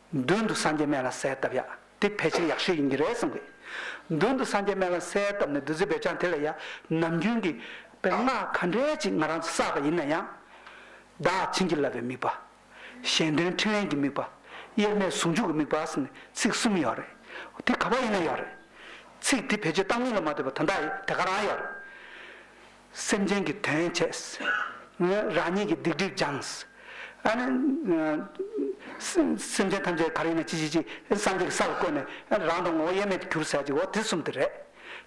མདུན་དུ་སངས་རྒྱས་སྨན་བླ་གསལ་བཏབ་ཡག་དེ་ཕལ་ཆེར་ཡག་ཤོས་ཡིན་གྱི་རེད་བསམ་གི། མདུན་དུ་སངས་རྒྱས་སྨན་བླ་གསལ་བཏབ་ནས་བདུད་རྩི་འབེབས་བྱང་དེ་ལ་ཡ་ནམ་རྒྱུན་གྱི་པའི་སྔགས་ག་འདྲས་ཅིག་ང་རང་ཚོས་བསགས་པ་ཡིན་ན་ཡང། བདག་བྱིན་གྱིས་བརླབས་པའི་དམིགས་པ། གཞན་དོན་ཕྲིན་ལས་ཀྱི་དམིགས་པ། དབྱེར་མེད་ཟུང་འཇུག་གི་དམིགས་པ་གསུམ་ནི་ཚིག་གསུམ་ཡོད་རེད། དེ་ག་པར་ཡིན་ན་ཡོད་རེད། ཚིག་དེ་ཕལ་ཆེར་གཏམ་རྙིང་ལ་མ་ལྟོས་པར་དོན་དག་ཡིན་དེ་ག་རང་ཡོད་རེད། སེམས་ཅན་གྱི་དོན་བྱས། རང་ཉིད་ཀྱི་སྡིག་སྒྲིབ་སྦྱངས། སེམས་ཅན་ཐམས་ཅད་ག་རེ་ཡིན་ན་ཅི་ཅི་ཅི་སངས་རྒྱས་ཀྱི་ས་ལ་བཀོད་ནས་རང་དང་ངོ་བོ་དབྱེར་མེད་དུ་གྱུར་ཟེར་ཅིག་འོ་དེ་གསུམ་དེ་རེད།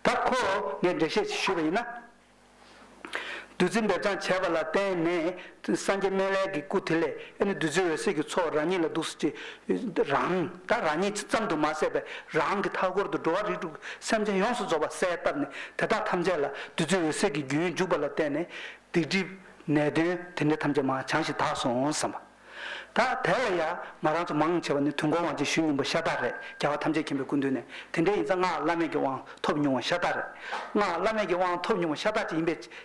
ད་ཁོ་བོ་ངས་འགྲེལ་བཤད་ཞུས་པ་ཡིན་ན། བདུད་རྩི་འབེབས་སྦྱངས་བྱས་པ་ལ་བརྟེན་ནས་སངས་རྒྱས་སྨན་བླའི་གི་སྐུ་དེ་ལས་ཨེ་ནི་བདུད་རྩི་འོད་ཟེར་གྱི་ཚོགས་རང་ཉིད་ལ་བདུགས་སུ་བྱས། རང་ད་རང་ཉིད་ཅི་ཙམ་དུ་མ་ཟད་པའི་རང་གི་མཐའ་སྐོར་དུ་འགྲོ་བ་རིགས་དྲུག་གི་སེམས་ཅན་ཡོངས་སུ་རྫོགས་པར་གསལ་བཏབ་ནས་དེ་དག་ཐམས་ཅད་ལ་བདུད་རྩི་འོད་ཟེར་གྱི་རྒྱུན་འཇུག་པ་ལ་བརྟེན་ནས་སྡིག་སྒྲིབ། ནད་གདོན་དེ་འདྲ་ཐམས་ཅད་མ་བྱང་ཞིང་དག་སོང་བསམ་པ། ད་དེ་ལ་ཡང་མ་རང་ཚོ་མང་ཆེ་བ་ནི་དུས་འཁོར་དབང་ཆེན་ཞུ་སྙིང་པོ་ཤ་སྟག་རེད་རྒྱལ་བ་ཐམས་ཅད་མཁྱེན་པའི་སྐུ་མདུན་ནས་དེ་འདྲའི་ཡིན་ཙང་སྔགས་བླ་མེད་ཀྱི་དབང་ཐོབ་མྱོང་བ་ཤ་སྟག་རེད་སྔགས་བླ་མེད་ཀྱི་དབང་ཐོབ་མྱོང་བ་ཤ་སྟག་ཅིག་ཡིན་པས་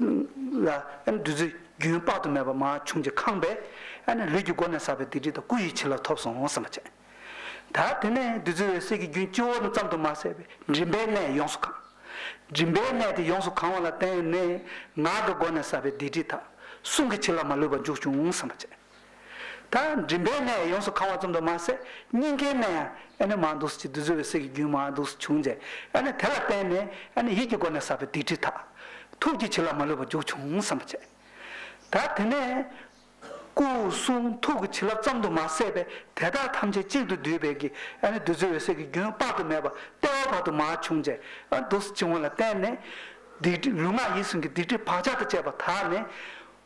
ལ། བདུད་རྩི་རྒྱུན་དཔག་ཏུ་མེད་པ་མ་བྱུང་གཅིག་ཁང་པས། ལུས་ཀྱི་སྒོ་ནས་ཟག་པའི་སྡིག་སྒྲིབ་དང་སྐུ་ཡི་བྱིན་རླབས་ཐོབ་སོང་སེམས་པ་ཅན། ད་དེ་ནས་བདུད་རྩི་འོད་གསལ་གྱི་རྒྱུན་སྤྱི་བོ་ཙམ་དུ་མ་ཟད་པའི་མགྲིན་པའི་གནས་ཡོངས་སུ་གང། མགྲིན་པའི་གནས་དེ་ཡོངས་སུ་གང་བ་ལ་བརྟེན་ནས་ངག་གི་སྒོ་ནས་ཟག་པའི་སྡིག་སྒྲིབ་དག་གསུང་གི་བྱིན་རླབས་མ་ལུས་པ་འཇུག་བྱུང་སེམས་པ་ཅན། ད་མགྲིན་པའི་ནད་ཡོངས་སུ་གང་བ་ཙམ་དུ་མ་ཟད་སྙིང་གའི་ནད་ཡང་ཨེ་ནི་མང་འདུག་ཟེར་གྱི་འདུག་ཟེར་བའི་སྲིད་ཀྱི་རྒྱུན་མང་འདུག་ཟེར་བྱུང་རྗེས་ཨེ་ནི་དེ་ལ་བརྟེན་ནས་ཨེ་ནི་ཡིད་ཀྱི་སྒོ་ནས་བསགས་པའི་སྡིག་སྒྲིབ་དག། ཐུགས་ཀྱི་བྱིན་རླབས་མ་ལུས་པ་རྒྱུག་བྱུང་བསམ་པ་བྱས། ད་དེ་ནས། སྐུ་གསུང་ཐུགས་ཀྱི་བྱིན་རླབས་ཙམ་དུ་མ་ཟད་པའི་དེ་དག་ཐམས་ཅད་གཅིག་ཏུ་བསྡུས་པས་ཀྱི་ཨེ་ནི་བདུད་རྩི་འོད་གསལ་གྱི་རྒྱུན་དཔག་ཏུ་མེད་པ་ལྟེ་བ་བར་དུ་མ་བྱུང་རྗེས་ཨེ་འདུག་ཟེར་བྱུང་བ་ལ་བརྟེན་ནས། སྡིག་སྒྲིབ་ལུས་ངག་ཡིད་གསུམ་གྱི་སྡིག་སྒྲིབ་བག་ཆགས་དང་བཅས་པ་དག་ནི།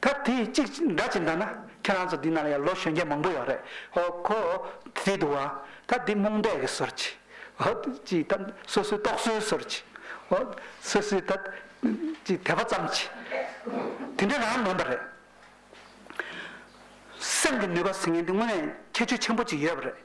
ད་དེ་གཅིག་འདྲ་གཅིག་འདྲ་ན་ཁྱེད་རང་ཚོ་འདི་ན་ལ་ཡང་ལོ་གཞོན་སྐྱེས་མང་པོ་ཡོད་རེད་ཧོ་ཁོ་དེ་འདུག་ཨ་ད་དེ་རྨོངས་དད་ཀྱི་ཟོལ་གྱིས་ཧོ་ཅིག་ད་སོ་སོའི་རྟོག་བཟོའི་ཟོལ་གྱིས་ཧོ་སོ་སོའི་ད་ཅིག་དད་པ་ཙམ་གྱིས་དེ་འདྲ་རང་མིན་པ་རེད། སེམས་ཀྱི་ནུས་པ་ཟེར་མཁན་དེ་དངོས་གནས་ཁྱད་ཆོས་ཆེན་པོ་གཅིག་ཡོད་པ་རེད།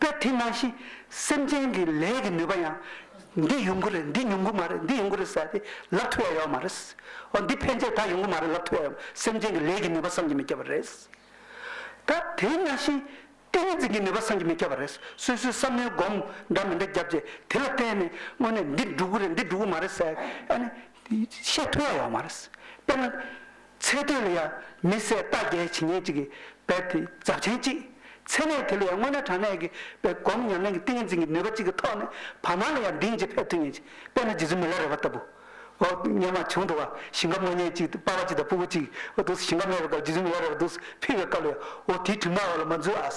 པས་དེ་ནང་བཞིན་སེམས་ཅན་གྱི་ལས་ཀྱི་ནུས་པ་ཡང། འདི་ཡོང་གི་རེད་འདི་ཡོང་གི་མ་རེད་འདི་ཡོང་གི་རེད་ཟེར་ཏེ་ལབ་ཐུབ་ཡ་ཡོད་མ་རེད། འོ་འདི་ཕན་ཆད་ད་ཡོང་གི་མ་རེད་ལབ་ཐུབ་ཡ་ཡོད་སེམས་ཅན་གྱི་ལས་ཀྱི་ནུས་པ་བསམ་གྱི་མི་ཁྱབ་པ་རེད། ད་དེ་ནང་བཞིན་ཏིང་འཛིན་གྱི་ནུས་པ་བསམ་གྱི་མི་ཁྱབ་པ་རེད་སོ་སོའི་བསམ་བློའི་སྒོམ་འདྲ་མི་འདྲ་བརྒྱབ་རྗེས་དེ་ལ་བརྟེན་ནས་དངོས་གནས་འདི་འགྲུབ་གི་རེད་འདི་འགྲུབ་གི་མ་རེད་ཟེར་ཡ་ནི། བཤད་ཐུབ་ཡ་ཡོད་མ་རེད། དཔེར་ན། ཚེ་དེ་ལ་ཡང་མི་བཟད་རྟ་བརྒྱའི་བྱིན་ཉེས་ཅིག་གིས་བེར་ཏེ་འཛབ་ཆེན་གཅིག། ཚེ་གནས་དེ་ལ་ཡང་སྔོན་ན་དྲང་གནས་ཀྱི་བེར་སྒོམ་ཉམས་ལེན་གྱི་ཏིང་ངེ་འཛིན་གྱི་ནུས་པ་གཅིག་གི་ཐོག་ནས་བར་སྣང་ལ་ཡང་གདིང་གཅིག་བེར་ཐུན་ཉེས་ཅིག་བེར་ནི་རྗེ་བཙུན་མི་ལ་རས་པ་ལྟ་བུ། འོ་སྙམ་མ་བྱུང་འགྲོ་བ་ཞིང་ཁམས་དངོས་གནས་གཅིག་སྟེ་དཔའ་བ་གཅིག་དང་སྤུ་བོ་གཅིག་གི་འོ་དུག་སེ་ཞིང་ཁམས་གནས་པའི་སྐབས་རྗེ་བཙུན་མི་ལ་རས་པ་དུག་སེ་ཕུལ་བའི་སྐབས་ལ་ཡང་འོ་དེའི་དྲི་མ་འོ་ལ་མ་འཛུལ་ཨཱ།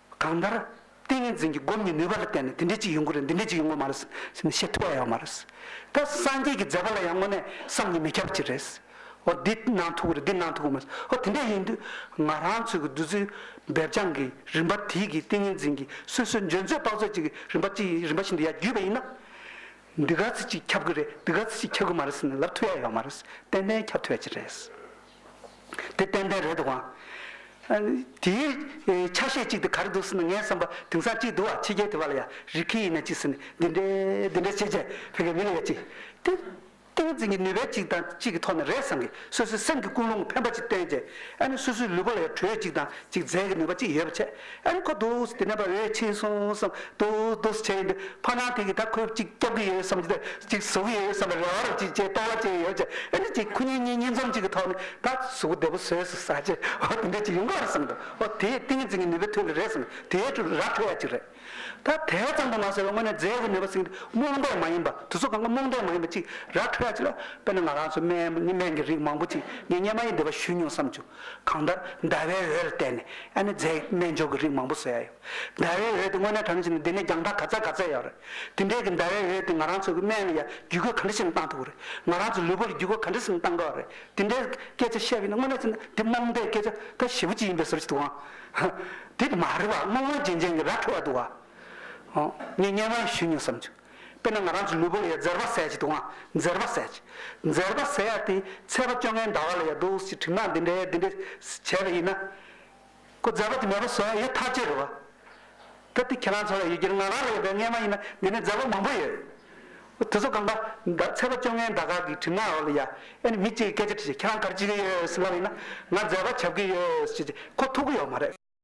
གང་ལྟར། ཏིང་ངེ་འཛིན་གྱི་སྒོམ་གྱི་ནུས་པ་ལ་བརྟེན་ནས་དེ་འདྲའི་ཅིག་ཡོང་གི་རེད་འདི་འདྲའི་ཅིག་ཡོང་གི་མ་རེད་ཟེར་ནས་བཤད་ཐུབ་ཡ་ཡོད་མ་རེད། ད་སངས་རྒྱས་ཀྱི་མཛད་པ་ལ་ཡང་དངོས་གནས་བསམ་གྱིས་མི་ཁྱབ་ཅིག་རེད། འོ་འདི་གནང་ཐུབ་ཀི་རེད་འདི་གནང་ཐུབ་ཀི་མ་རེད། འོ་དེ་འདྲ་ཡིན་དུས་ང་རང་ཚོའི་གི་བདུད་རྩི་འབེབས་རྐྱང་གི་རིམ་པ་དེའི་གི་ཏིང་ངེ་འཛིན་གྱི་སོ་སོའི་འཇོན་ཚོད་དཔག་ཚོད་ཅིག་གི་རིམ་པ་ཅིག་རིམ་པ་བཞིན་དུ་ཡར་བརྒྱུས་པ་ཡིན་ན། འདི་ག་ཚོད་ཅིག་ཁྱབ་ཀི་རེད་འདི་ག་ཚོད་ཅིག་ཁྱབ་ཀི་མ་རེད་ཟེར་ནས་ལབ་ཐུབ་ཡ་ཡོད་མ་རེད། ཏན་ཏན་ཁྱབ་ཐུབ་ཡ་ཅིག་རེད། དེ་ཏན་ཏན་རེད་དབང། དེའི་ཆ་ཤས་གཅིག་དེ་ག་རེ་འདུག་ཟེར་ན་ངའི་བསམ་པ་དེང་སང་གཅིག་འདུག་ཨ་ཕྱི་རྒྱལ་དེ་བ་ལ་ཡང་རིགས་ཁྱི་ཡིན་ན་གཅིག་ཟེར་ནས་འདི་འདྲས་འདི་འདྲས་བྱེད་བྱས་ཕེ་གའི་མི་ལ་ཡང་གཅིག་དེ་ཏིང་ངེ་འཛིན་གྱི་ནུས་པའི་གཅིག་དང་གཅིག་གི་ཐོག་ནས་རེད་བསམ་གི་སོ་སོའི་སེམས་ཀྱི་ཀུན་སློང་གི་འཕེན་པ་གཅིག་བསྟན་བྱས་ཨ་ནི་སོ་སོའི་ལུས་པོ་ལ་ཡང་དྲོད་གཅིག་དང་གཅིག་རྫས་ཀྱི་ནུས་པ་གཅིག་ཡོད་པ་བྱས། ཨེ་རེད་ཁོ་དུས་དེ་ནས་བ་འོས་ཆེན་གསུངས་སམ་དུས་དུས་བྱས་འདུག་ཕ་ནང་ཐིག་གིས་ད་ཁོས་གཅིག་སྐྱབས་ཀྱི་ཡོད་བསམ་གྱི་གཅིག་བཟོ་གི་ཡོད་བསམ་པའི་རེ་བ་རེ་བྱས་བྱས་སྟོང་བ་བྱས་ཡོད་བྱས་ཨེ་རེད་ཅིག་ཁོ་གཉིས་གཉིས་གཉིས་འཛོམས་གཅིག་གི་ཐོག་ནས་ད་གཟུགས་བདེ་པོ་བཟོས་སོ་ཟ་རྗེས་ཨོ་དེ་འདྲས་ཅིག་ཡོང་གི་རེད་བསམ་འདུག་ཨོ་དེ་ཏིང་ངེ་འཛིན་གྱི་ནུས་པའི་ཐོད་ཀྱི་རེད་བསམ་དེ་ཡས་ཀྲུག་ར་ཐོད་ཡ་ཅིག་རེད་ད་དེ་ཙམ་དུ་མ་ཟེར་བའི་སྔོན་ནས་རྫས་ཀྱི་ནུས་པ་ཟིན་གྱི་རྨོངས་དད་མ་ཡིན་པ་དུས་ཚོད་གང་གི་རྨོངས་དད་མ་ཡིན་པ་ཅིག་ར་ཐོད་ཡ་ཅིག་ལ་དཔེར་ན་ང་རང་ཚོའི་སྨན་སྨན་གྱི་རིགས་མང་པོ་ཅིག་ངས་སྨྱན་མ་ཡིན་བདེ་བ་ཞུས་མྱོང་བསམ་བྱུང། གང་ལྟར་ཟླ་བའི་འོད་ལ་བལྟས་ནས་ཨ་ནེ་རྫས་སྨན་སྦྱོར་གྱི་རིགས་མང་པོ་བཟོས་ཡ་ཡོད། ཟླ་བའི་འོད་དེ་དངོས་གནས་གྲ་ནས་བྱས་ནས་འདི་ནས་རྒྱང་ཐག་ག་ཚད་ག་ཚད་ཡག་རེད། དེ་འདྲའི་གི་ཟླ་བའི་འོད་དེ་ང་རང་ཚོའི་གི་སྨན་ལ་ཡ་བརྒྱུད་གོས་ག་འདྲ་བྱས་ནས་བཏང་ཐུབ་ཀི་རེད། ང་རང་ཚོའི་ལུས་པོ་ལ་བརྒྱུད་གོས་ག་འདྲ་བྱས་ནས་བཏང་དགོས་ཨ་རེད། དེ་འདྲའི་སྐད་ཆ་བཤད་གི་ན་དངོས་གནས་བྱས་ན་འདི་རྨོངས་དད་སྐད་ཆ་ད་ཞེ་བོ་གཅིག་ཡིན་པའི་ཟུར་གྱི་འདུག་ཨང། དེ་མ་རེད་པ་སྔོན་སྔོན་རྗེན་རྗེན་གི་ར་འཕྲོད་བ་འདུག་ཨང། ངས་བརྙན་དབང་ཞུས་མྱོང་བསམ་བྱུང། དཔེར་ན་ང་རང་གི་ལུས་པོ་ལ་ཡང་འཛེར་བ་ཟས་ཀྱི་འདུག་ཨང་འཛེར་བ་ཟས། འཛེར་བ་ཟས་ཡག་དེ་ཚད་པ་བཅོ་ལྔའི་ཟླ་བ་ལ་ཡག་འདུག་ཞེས་དྲིས་ན་འདི་འདྲའི་འདི་འདྲའི་བྱས་པ་ཡིན་ན། ཁོ་འཛེར་བ་དེ་མེད་པ་བཟོ་ཡག་ཡོད་ཐག་བཅད་རོགས། གལ་ཏེ་ཁྱེད་རང་ཚོ་ལ་ཡོད་རྒྱུ་ནི་ང་རང་ལ་ཡོད་པའི་རྔན་མ་ཡིན་ན་འདི་ནས་འཛེར་བ་མང་པོ་ཡོད། དེ་ཚོ་གང་ལྟར་ཟླ་ཚད་པ་བཅོ་ལྔའི་ཟླ་ག་གི་དྲིས་ན་འོ་ལོ་ཡ། ཨེ་ནི་མི་གཅིག་གིས་སྐད་ཆ་དྲིས་ཤིག་ཁྱེད་རང་གར་བྱེད་ཀྱི་ཡོད་ཟེར་ལབ་ཡིན་ན་ང་འཛེར་བ་བྱ་དགོས་ཀྱི་ཡོད་ཅེས་ཁོ་ཐུག་གི་ཡོད་མ་རེད།